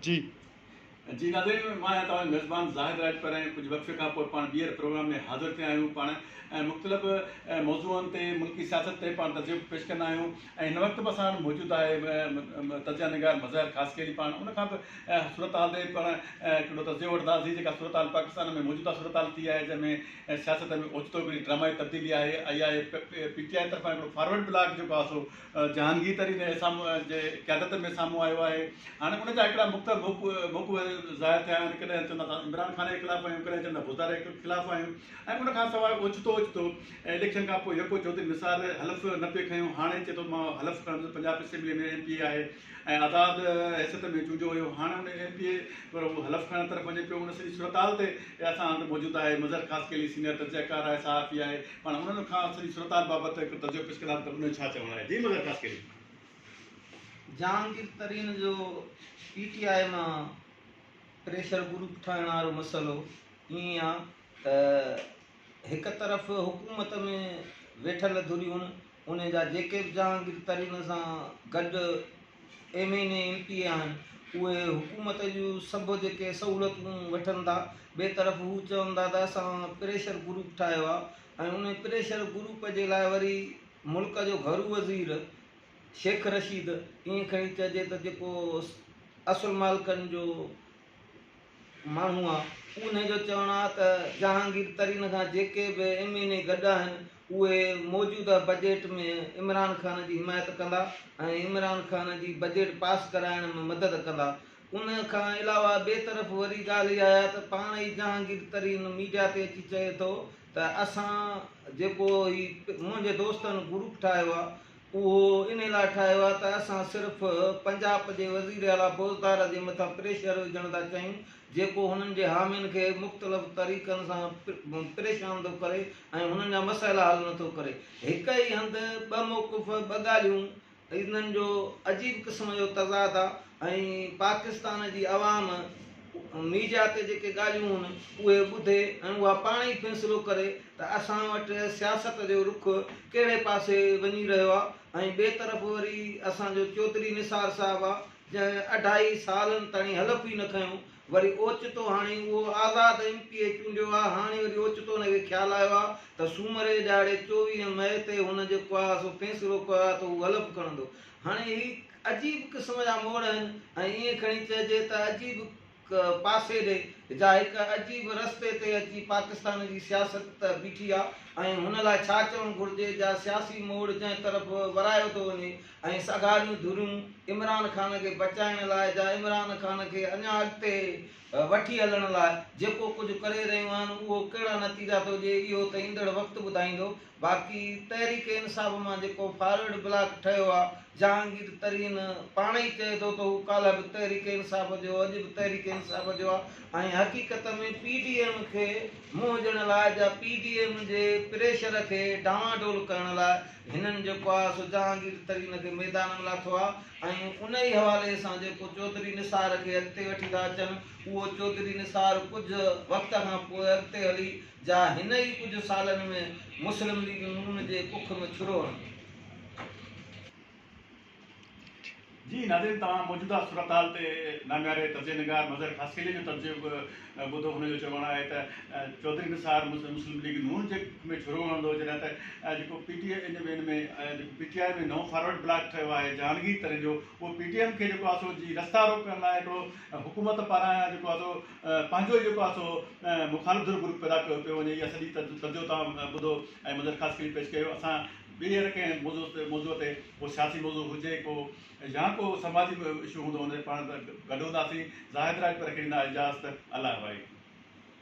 جي. جي ناظرين مان آهيان توهان جو ميزبان زاهد راڄپر ۽ ڪجهه وقفي کان پوء پاڻ ٻيهر پروگرام ۾ حاضر ٿيا آهيون پاڻ مختلف موضوعن تي ملڪي سياست تي پاڻ تجزيو پيش ڪندا آهيون ۽ هن وقت به اسان وٽ موجود آهي تجزيا نگار مظاهر خاصخيلي پاڻ ان کان به صورتحال تي پاڻ هڪڙو تجزيو وٺنداسين جيڪا صورتحال پاڪستان ۾ موجوده صورتحال ٿي آهي جنهن ۾ سياست ۾ اوچتو هڪڙي ڊرامائي تبديلي آهي اها آهي پي ٽي آء طرفان هڪڙو فارورڊ بلاڪ جيڪو آهي سو جهانگير ترين جي قيادت ۾ سامهون آيو آهي هاڻي ان جا هڪڙا مختلف رخ رخ ظاهر ٿيا آهن ڪڏهن چوندا ته عمران خان جي خلاف آهيون ڪڏهن چوندا بوتاري جي خلاف آهيون ۽ ان کان سواء اوچتو اوچتو اليڪشن کان پوء يڪو چوڌري نثار حلف نه پئي کنيو هاڻي چئي ٿو مان حلف کڻڻ جو Punjab assembly ۾ M P A آهي ۽ آزاد حيثيت ۾ چونڊيو ويو هاڻي ان ايم پي اي پر هو حلف کڻڻ طرف وڃي پيو ان سڄي صورتحال تي اسان هنڌ موجود آهي مظهر خاصخيلي سينيئر تجزيا ڪار آهي صحافي آهي پاڻ انهن کان سڄي صورتحال بابت هڪ تجزيو پيش ڪنداسين ته ان جو ڇا چوڻ آهي. جي مظهر خاص ڪري. جهانگير ترين جو پي ٽي آء مان پريشر گروپ ٺاهڻ وارو مسئلو ائين آهي ته هڪ طرف حڪومت ۾ ويٺل ڌريون انهن جا جيڪي به جهانگير ترين سان گڏ M N A, M P A آهن اهي حڪومت جون سڀ جيڪي سهولتون وٺن ٿا. ٻئي طرف هو چون ٿا ته اسان پريشر گروپ ٺاهيو آهي ۽ انهي پريشر گروپ جي لاء وري ملڪ جو گهرو وزير شيخ رشيد ائين کڻي چئجي ته جيڪو اصل مالڪن جو ماڻهو آ. انهي جو چوڻ آ ته جهانگير ترين کان جيڪي به ايم اين اي گڏ آهن اهي موجوده بجيٽ ۾ عمران خان جي حمايت ڪندا ۽ عمران خان جي بجيٽ پاس ڪرائڻ ۾ مدد ڪندا ان کان علاوه ٻي طرف وري ڳالهه اها آهي ته پاڻ ئي جهانگير ترين ميڊيا تي اچي چئي ٿو ته اسان جيڪو هي منهنجي دوستن گروپ ٺاهيو آ اهو انهي لاء ٺاهيو آهي ته اسان صرف پنجاب جي وزيراعليٰ بوزدار جي مٿان پريشر وجهڻ ٿا چاهيون جيڪو هنن جي حامين کي مختلف طريقن سان پريشان ٿو ڪري ۽ هنن جا مسئلا حل نٿو ڪري. هڪ ئي هنڌ ٻه موقف ٻه ڳالهيون انهن جو عجيب قسم جو تضاد آهي ۽ پاڪستان جي عوام ميڊيا تي جيڪي ڳالهيون هن اهي ٻڌي ۽ اها پاڻ ئي فيصلو ڪري ته اسان وٽ سياست جو رخ ڪهڙي پاسي وڃي رهيو آهي ۽ ٻئي طرف وري اسان جو چوڌري نثار صاحب آهي جنهن اڍائي سالن تائين حلف ئي نه کنيو وري اوچتو هاڻي اهو آزاد ايم پي اي چونڊيو آهي هاڻي وري اوچتو ان کي خيال آيو آهي ته سومري ڏهاڙي چوويهه مئي تي هن جيڪو آهي سو فيصلو ڪيو آهي ته هو حلف کڻندو هاڻي هي عجيب قسم جا موڙ آهن ۽ ائين کڻي چئجي ته عجيب هڪ پاسي ڏي جا هڪ عجيب رستي تي اچي پاڪستان جي سياست بيٺي آ ۽ هن لاء ڇا چوڻ گهرجي جا سياسي موڙ جنهن طرف ورايو ٿو وڃي ۽ سگهاريون ڌريون عمران خان کي بچائڻ لاء جا عمران خان کي اڃا اڳتي وٺي هلڻ لاء جيڪو ڪجهه ڪري رهيون آهن اهو ڪهڙا نتيجا ٿو ڏئي اهو ته ايندڙ وقت ٻڌائيندو باقي تحريڪ انصاف مان جيڪو فارورڊ بلاڪ ٺهيو آهي، جهانگير ترين پاڻ ئي چئي ٿو ته هو ڪالهه به تحريڪ انصاف جو هو، اڄ به تحريڪ انصاف جو آهي ۽ حقيقت ۾ پي ڊي ايم کي منهن ڏيڻ لاء جا پي ڊي ايم جي پريشر کي ڊانواڊول ڪرڻ لاء هنن جيڪو آهي سو جهانگير ترين کي ميدان ۾ لاٿو آهي ۽ ان ئي حوالي سان جيڪو چوڌري نثار کي اڳتي وٺي ٿا اچن اهو چوڌري نثار ڪجهه وقت کان پوء اڳتي هلي جا هن ئي ڪجهه سالن ۾ مسلم ليگ نون جي ڪک م ڇرو هڻندو. جي ناظرين توهان موجوده صورتحال تي نامياري تجزئي نگار مظهر خاصخيلي جو تجزئو به ٻڌو هن جو چوڻ آهي ته چوڌري نثار مسلم ليگ نون جي ڪک ۾ ڇرو هڻندو جڏهن ته جيڪو پي ٽي ان ۾ جيڪو پي ٽي آء ۾ نئون فارورڊ بلاڪ ٺهيو آهي جهانگير ترين جو اهو پي ٽي ايم کي جيڪو آهي سو جي رستا روڪڻ لاء هڪڙو حڪومت پاران جيڪو آهي سو پنهنجو ئي جيڪو آهي سو مخالف ڌر گروپ پيدا ڪيو پيو وڃي اها سڄي تجزيو توهان ٻڌو ۽ منظر خاص کي به پيش ڪيو اسان ٻيهر ڪنهن موضوع تي موضوع تي ڪو سياسي موضوع هجي ڪو يا ڪو سماجي اشو هوندو ان تي پاڻ گڏ هونداسين زاهد راڄپر کي ڏيندا اجازت الله وائي.